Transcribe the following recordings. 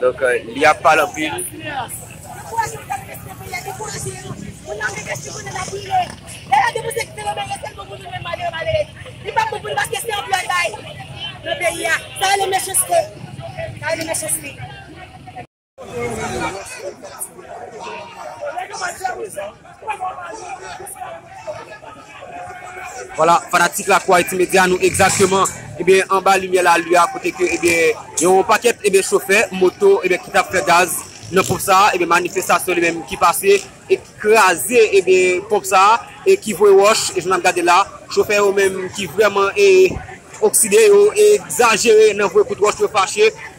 Donk li ap pale anpil. Voilà, fanatik la kwa iti medya nou egzakteman ebyen eh anba limyè la lua a kote ke ebyen eh yon pakèt ebyen eh chofè moto ebyen eh ki tap fè gaz nan ponp sa ebyen eh manifestasyon li menm ki pase e ki kraze ebyen eh ponp sa e ki voye wòch e jan nap gade la chofè yo menm ki vrèman eh okside yo egzajere nan voye kout wòch yo fache.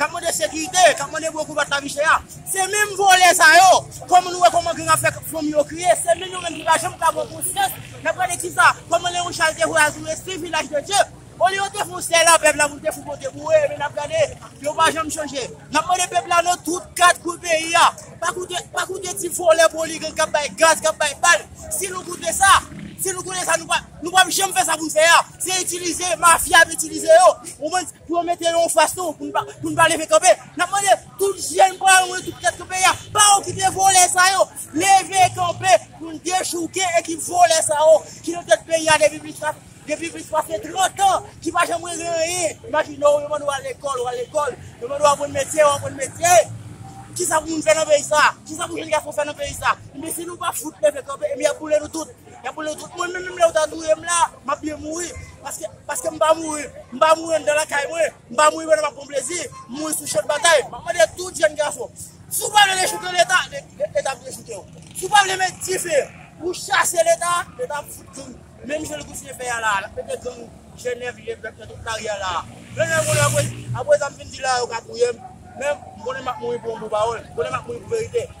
kap mande sekirite, kap mande bwe kou bat lavi chè a, se menm vòlè sa yo, kòman nou wè kòman gang ap fè fanmi yo kriye, se menm yo menm ki pa janm ka pran konsyans, nap gade kisa, kòman Leon Charles te vwe al sou Leslie Vilaj de Dye, olye yo te fon sèl la pèp la pou l te fon pote pou yo, enben nap gade, yo pa janm chanje, nap mande pèp la nan tout 4 kwen peyi a, pa koute, pa koute ti vòlè poligank kap bay gaz, kap bay bal, si nou koute sa, si nou koute sa nou pa, nou pap janm fè sa pou n fè a, se itilize, mafya ap itilize yo, ou konprann. Pou yo mete yo anfas nou pou nou pa leve kanpe. N ap mande tout jèn paran yo, tout tèt nan peyi a, pa okipe vòlè sa yo. Leve kanpe pou n dechouke ekip vòlè sa yo ki nan tèt peyi a depi plis pase 30 an, ki pa janm regle anyen. Imajine w, yo mande w al lekòl, w al lekòl, yo mande w aprann metye, w aprann metye. Kisa pou moun fè nan peyi sa a? Kisa pou jenn gason fè nan peyi sa a? Enben si nou pa fout leve kanpe, enben y ap boule nou tout. Yap boule tout moun menm lèw ta touyem la map byen mouri paske paske m pa mouri m pa mouri anndan lakay mwen m pa mouri pandan map pran plezi m mouri sou chan batay map mande tout jèn gason si w pa vle dechoukè leta leta ap dechoukè w si w pa vle met dife pou chase leta leta ap fout gang menm jan li kontinye fè a la lap mete gang jenèv lilèv nan tout lari a la menm lè m konnen apre sa m fin di la yo ka touyem men m konnen map mouri pou yon bon pawòl m konnen map mouri pou verite.